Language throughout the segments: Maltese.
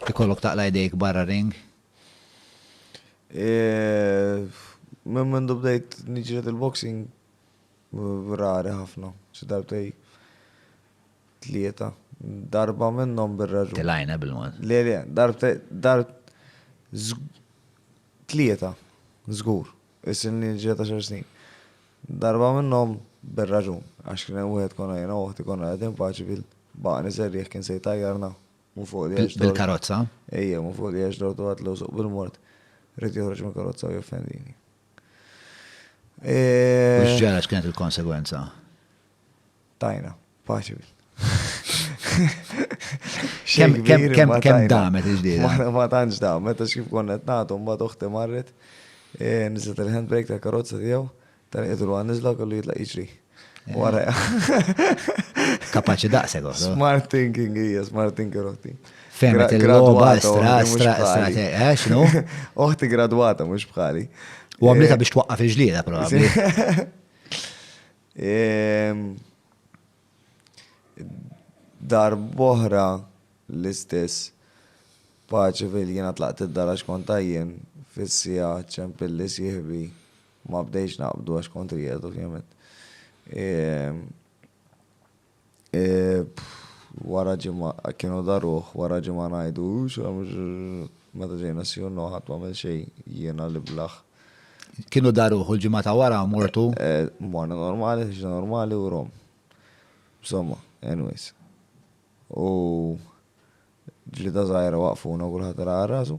Ikollok taqla' jdejk barra r-ring? Minn mindu bdejt niġred il-boxing rari ħafna, xi darbtej tlieta. Darba minnhom bir-raġun. Tilgħajna bil-mod. Le, le, darbtej, darb, tlieta, żgur, isilni niġred għaxar snin. Darba minnhom bir-raġun, għax kien hemm wieħed konna jiena u oħti konna qegħdin f'paċi bil-baqani serrieħ kien se jtajjarna. Mu fuq li għax. Bil-karozza? Ejja, mu fuq li għax dortu għat l-użuq bil-mort. Rrit joħroġ minn karozza u joffendini. Mux ġara x'kienet il-konsegwenza? Tajna, paċi. Kem damet iġdida? Mara ma tanġ damet, għax kif konnet natu, mba toħti marret, e, nizet il-handbrake ta' karozza tijaw, Dan qiegħed ruha niżla kollu jitlaq jiġri. Eh. Wara. Kapaċi daqseg oħra. Smart thinking hija, smart thinking oħti. Fehmet il-logħba estra, estra, estra, eh, x'nu? Oħti gradwata mhux bħali. U għamlita eh, biex twaqqaf il-ġlieda probabbli. Ehm, dar boħra l-istess paċi fil-jena tlaqt id-dara xkontajjen fil-sija ċempilli sieħbi Ma bdejtx naqbdu għax kont qiegħed ovvjament. Wara ġimgħa kienu daruh, wara ġimgħa ngħidu meta ġejna sjunnu ħadd m'għamel xejn jiena l-iblah. Kienu daruh u l-ġimgħa ta' wara mortu? Morna normali, ħriġna normali u rom. Insomma, anyways. U ġlieda żgħira waqfuna u kulħadd ra rasu.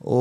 U